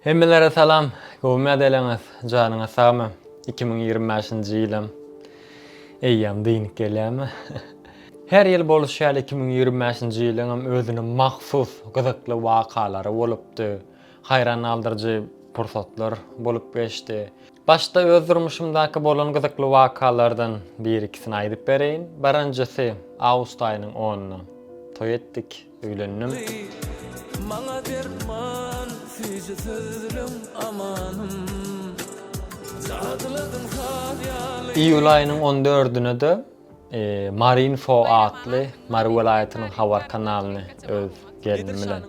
Hemmelere salam! Gowumy edeleňiz? Janyňyz sagmy? Iki müň ýigrimi bäşinji ýylam eýýäm dynyk gelýärmi? Her ýyl bolşy ýaly iki müň ýigrimi bäşinji ýylyňam özüne mahsus gyzykly wakalary bolupdy. Haýran galdyryjy pursatlar bolup geçdi. Başda öz durmuşymdaky bolan gyzykly wakalardan bir-ikisini aýdyp bereýin. Birinjisi, awgust aýynyň onyna toý etdik. Öýlendim. Maňa derman süýji sözleň amanym. Jadyladyň saz ýaly. Iýul aýynyň on dördüne-de Marinfo atly Mary welaýatynyň habar kanalyny öz gelnim bilen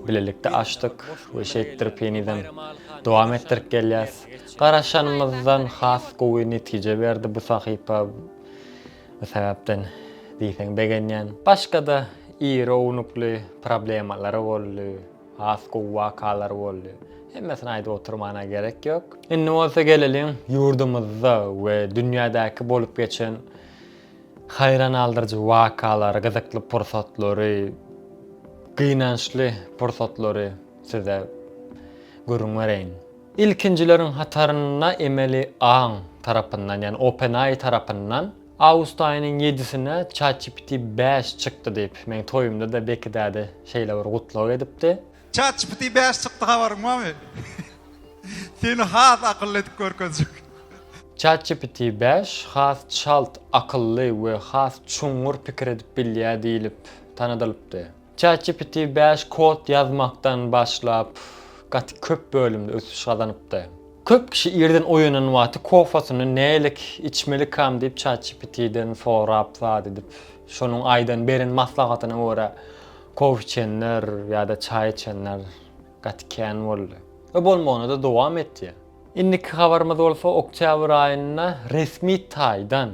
bilelikde açdyk we şeýtdirip henizem dowam etdirip gelýäs. Garaşanymyzdan has gowy netije berdi bu sahypa. Bu sebäpden diýseň begenýän. Başga-da iri ownukly problemalar boldy, has gowy wakalar boldy. Hemmesini aýdyp oturmana gerek ýok. Indi bolsa geleliň ýurdumyzda we dünýädäki bolup geçen haýran galdyryjy wakalary, gyzykly pursatlary, gynançly pursatlary size gürrüň bereýin. Ilkinjileriň hatarynda emeli aň tarapyndan, ýagny OpenAI tarapyndan awgust aýynyň ýedisinde ChatGPT bäş çykdy diýip, meň toýumda-da Beki däde şeýle bir gutlag edipdi. ChatGPT bäş çykdy habaryň barmy? Seni has akylly edip görkezjek. ChatGPT bäş has çalt, akylly we has çuňňur pikir edip bilýär diýlip tanadylypdy. ChatGPT bäş kod ýazmakdan başlap, gaty köp bölümde ösüş gazanypdy. Köp kişi irden oýanan wagty kofasyny nälik içmelikam diýip ChatGPT-den sorap zat edip, şonuň aýdan beren maslahatyna görä kofe içenler ýa-da çaý içenler gaty kän boldy we bolmagyna-da dowam edýär. Indiki habarymyz bolsa oktýabr aýynda resmi taýdan.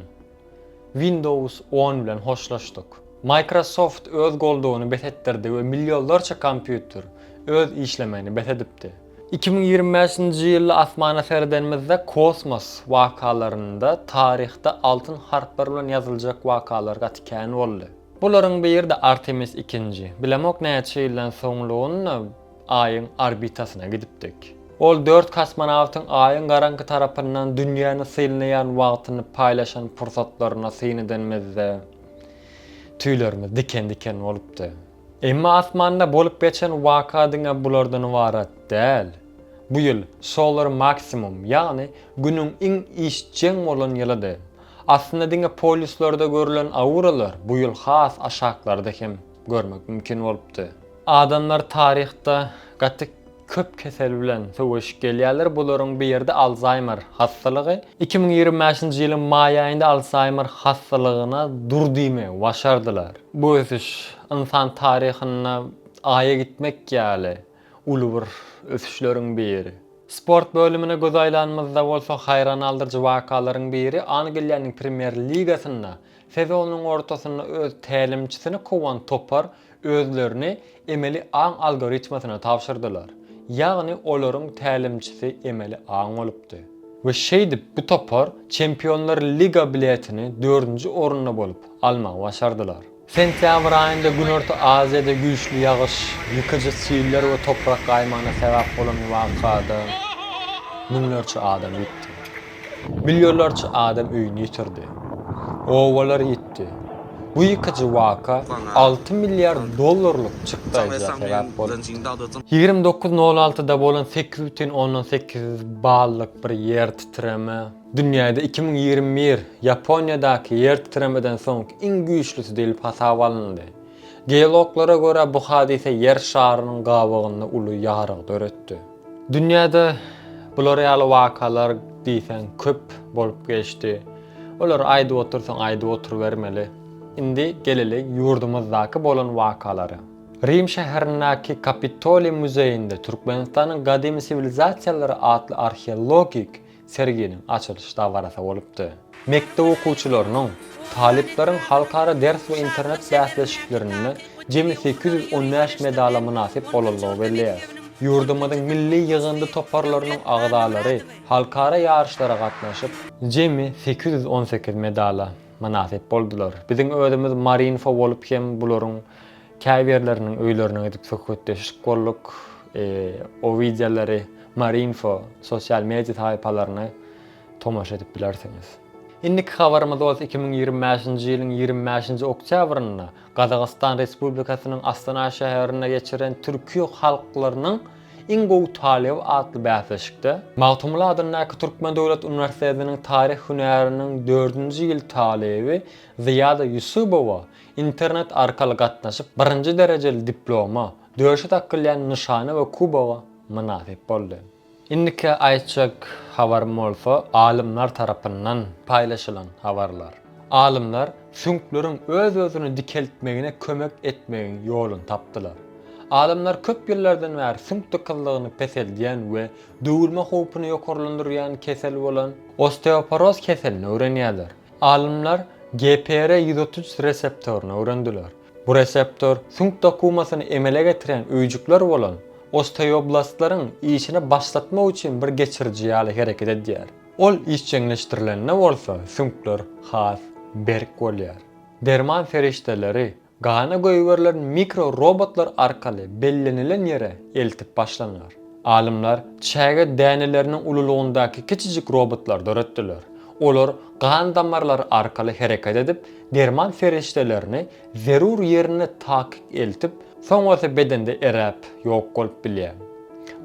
Windows on bilen hoşlaşdyk. Microsoft öz goldawyny bes etdirdi we millionlarça kompýuter öz işlemegini bes edipdi. Iki müň ýigrimi bäşinji ýylda asmana seredenimizde kosmos wakalarynda taryhda altyn harplar bilen ýazyljak wakalar gaty kän boldy. Bularyň biri-de Artemis ikinji. Bilemok näçe ýyldan soňlugyny. Aýyň orbitasyna gidipdik. Ol dört kosmonawtyň Aýyň garaňky tarapyndan dünýäni synlaýan wagtyny paýlaşan pursatlaryna syn edenimizde, tüýlerimiz diken-diken bolupdy. Emma asmanda bolup geçen waka diňe bulardan ybarat däl. Bu ýyl solar maksimum, ýagny Günüň iň işjeň bolan ýylydy. Aslynda diňe polýuslarda görülen auralar bu ýyl has aşaklarda hem görmek mümkin bolupdy. Adamlar taryhda gaty köp kesel bilen söweşip gelýärler, bularyň biri-de Alzaýmer hassalygy. Iki müň ýigrimi bäşinji ýylyň maý aýynda Alzaýmer hassalygyna dur diýmegi başardylar. Bu ösüş ynsan taryhynda Aýa gitmek ýaly uly bir ösüşleriň biri. Sport bölümine göz aýlanymyzda bolsa haýran galdyryjy wakalaryň biri Angliýanyň Premýer ligasynda Sezonyň ortasynda öz tälimçisini kowan topar özlerini emeli aň algoritmasyna tabşyrdylar. Ýagny olaryň tälimçisi emeli aň bolupdy. We şeýdip bu topar Çempionlar liga biletini dördünji orunda bolup, almagy başardylar. Sentýabr aýynda Günorta Aziýada güýçli ýagyş, ýykyjy siller we toprak gaýmagyna sebäp bolan wakada müňlerçe adam ýitdi. Millionlarça adam öýüni ýitirdi. Obalar ýitdi. Bu ýykyjy waka alty milliard dollarlyk çykdaýja sebäp bolupdy. Ýigrimi dokuz nol altyda bolan sekiz bütin ondan sekiz ballyk bir ýertitreme dünýäde iki müň ýigrimi bir Ýaponiýadaky ýertitremeden soňky iň güýçlüsi diýlip hasaba alyndy. Geologlara görä, bu hadysa Ýer şarynyň gabygynda uly ýarygy döretdi. Dünýäde bular ýaly wakalar diýseň köp bolup geçdi. Olary aýdyp otursaň aýdyp oturybermeli. Indi geleli ýurdumyzdaky bolan wakalara. Rim şäherindäki Kapitoliý muzeýinde Türkmenistanyň gadymy siwilizasiýalary atly arheologik serginiň açylyş dabarasy bolupdy. Mekdep okuwçylarynyň, talyplaryň halkara ders we internet bäsleşiklerinde jemi sekiz ýüz on bäş medala mynasyp bolandygy belli. Ýurdumyzyň milli ýygyndy toparlarynyň agzalary halkara ýaryşlara gatnaşyp, jemi sekiz ýüz on sekiz medala mynasyp boldular biziň özümiz Marinfo bolup hem bularyň Käbirleriniň öýlerine gidip söhbetdeşlik gurduk. O wideolary Marinfo sosial media sahypalarynda tomaşa edip bilersiňiz. Indiki habarymyz bolsa iki müň ýigrimi bäşinji ýylyň ýigrimi bäşinji oktýabrynda Gazagystan Respublikasynyň Astana şäherinde geçirilen Türkiýe halklarynyň iň gowy talyby atly bäsleşikde, Magtymguly adyndaky Türkmen döwlet uniwersitetiniň taryh hünäriniň dördünji ýyl talyby Zyýada Ýusubowa Internet arkaly gatnaşyp, birinji derejeli diploma, döşe dakylýan nyşana we kuboga mynasyp boldy. Indiki aýtjak habarym bolsa alymlar tarapyndan paýlaşylan habarlar. Alymlar süňkleriň öz-özüni dikeltmegine kömek etmegiň ýoluny tapdylar. Alymlar köp ýyllardan bäri süňk dykyzlygyny peseldýän we döwülme howpuny ýokarlandyrýan kesel bolan osteoporoz keselini öwrenýärler. Alymlar GPR ýüz otuz üç reseptoryny öwrendiler. Bu reseptor süňk dokumasyny emele getirýän öýjükler bolan osteoblastlaryň işini başlatmak üçin bir geçiriji ýaly hereket edýär. Ol işjeňleşdirilende bolsa süňkler has berk bolýar. Derman serişdeleri Gana goýberilen mikro robotlar arkaly bellenilen ýere eltip başlanylar. Alymlar çäge däneleriniň ululygyndaky kiçijik robotlar döretdiler. Olar gan damarlary arkaly hereket edip, derman serişdelerini zerur ýerine takyk eltip, soňrasy bedende eräp, ýok bolup bilýär.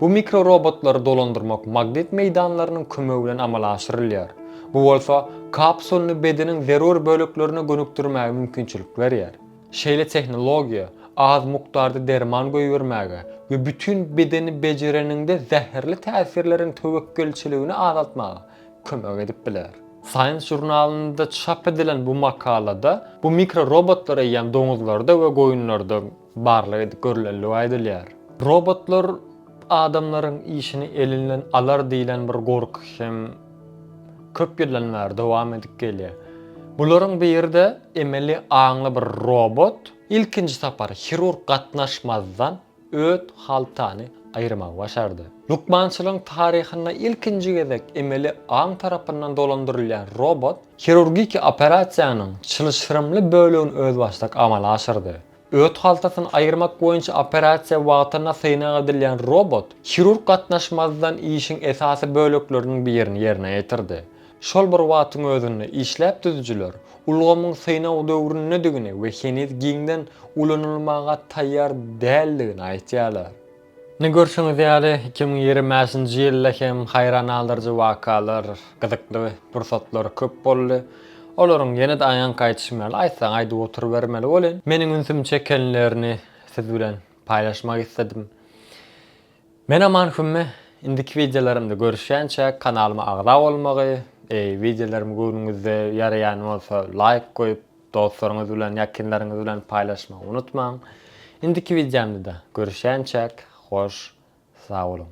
Bu mikrorobotlary dolandyrmak magnit meýdanlarynyň kömegi bilen amala aşyrylýar. Bu bolsa kapsulyny bedeniň zerur böleklerine gönükdirmäge mümkinçilik berýär. Şeýle tehnologiýa az mukdarda derman goýbermäge we bütin bedeni bejereniňde zäherli täsirleriň töwekgelçiligini azaltmaga kömek edip biler. Science žurnalynda çap edilen bu makalada bu mikrorobotlar eýýäm doňuzlarda we goýunlarda, barlag edip görlendigi aýdylýar. Robotlar adamlaryň işini elinden alar diýlen bir gorky hem köp ýyldan bäri dowam edip gelýär. Bularyň biri-de emeli aňly bir robot ilkinji sapar hirurg gatnaşmazdan öt haltany aýyrmagy başardy. Lukmançylygyň taryhynda ilkinji gezek emeli aň tarapyndan dolandyrylýan robot hirurgiki operasiýanyň çylşyrymly bölegini özbaşdak amala aşyrdy. Öt haltasyny aýyrmak boýunça operasiýa wagtynda synag edilýän robot hirurg gatnaşmazdan işiň esasy bölekleriniň birini ýerine ýetirdi. Şol bir wagtyň özünde işläp düzüjiler ulgamyň synag döwründedigini we heniz giňden ulanylmaga taýýar däldigini aýtýarlar. Ine görşüňiz ýaly, iki müň ýigrimäşinji ýylda hem haýran galdyryjy wakalar, gyzykly pursatlar köp boldy. Olaryň ýene-de aýank aýdyşym ýaly, aýtsaň aýdyp oturybermeli welin, meniň ünsümi çekenlerini siz bilen paýlaşmak isledim. Men Aman Hümme, indiki wideolarymda görüşýänçä kanalyma agza bolmagy, eý wideolarymy göwnüňizde ýaraýan bolsa laýk goýup, Dostlaryňyz bilen ýakynlaryňyz bilen paýlaşmagy unutmaň. Indiki wideomda görüşýänçäk hoş sag boluň.